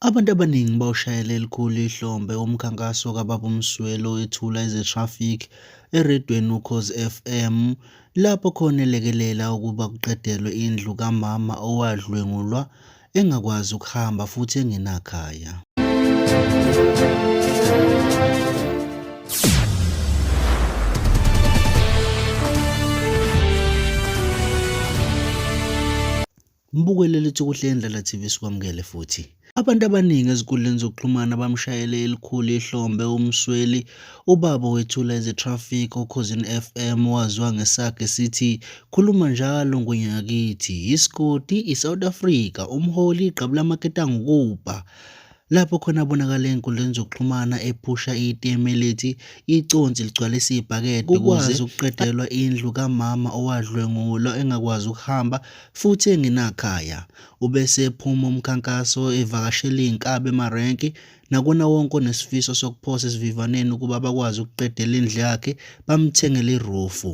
Abantu abaningi bawushayela elikhulu ihlombe umkhankaso kaBaba uMsweli owethula eze-traffic eredweni uKhozi FM lapho khona elekelela ukuba kuqedelwe indlu kamama owadlwengulwa engakwazi ukuhamba futhi engenakhaya. Mbukele lithi kuhle indlela TV sikwamukele futhi. Abantu abaningi ezinkundleni zokuxhumana bamshayele elikhulu ihlombe uMsweli, ubaba wethula ezeTraffic oKhozini FM waziwa ngesakhe sithi khuluma njalo ngwenyakithi, isigodi iSouth Africa, umholi igqabu lamaketango kubha. lapho khona abonakala enkundleni zokuxhumana ephusha itm elithi iconsi ligcwalisa ibhakede kukwazi ukuqedelwa indlu kamama owadlwengulwa engakwazi ukuhamba futhi engenakhaya ubese ephuma umkhankaso evakashela iy'nkabi emarenki nakona wonke onesifiso sokuphosa esivivaneni ukuba bakwazi ukuqedela indlu yakhe bamthengele irufu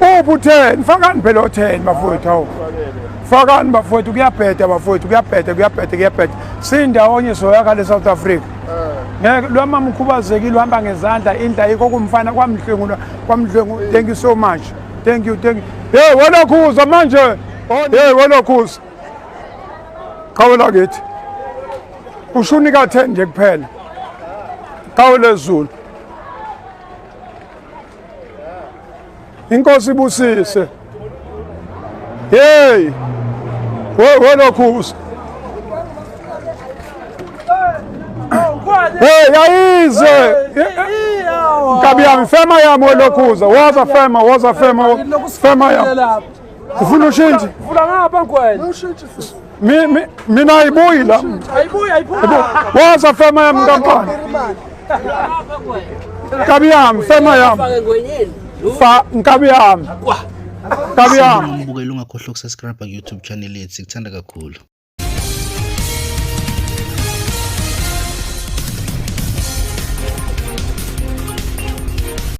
uphi utheni fakani phela otheni bafowethu hawu fakani bafowethu kuyabheda bafowethu kuyabheda kuyabheda kuyabheda siyindawonye soyakha le-south africa ngeke lo mama ukhubazekile uhamba ngezandla indla yikho kumfana kwamdlwengula kwamdlwengu thank you so much thank you thank you hey welokhuza manje hey welokhuza qhawela kithi ushuni ka-ten nje kuphela qhawele zulu inkosi ibusise hey welokhuza hey yayize nkabi yami fema yami welokhuza woza fema woza fema fema yami ufuna ushintshe Mi- mi- mina ayibuyi la waza fema yami nkampani nkabi yami fema yami fa nkabi yami nkabi yami Sibonga ukubukela ungakhohlwa ukusubscribe ku YouTube channel yethu sikuthanda kakhulu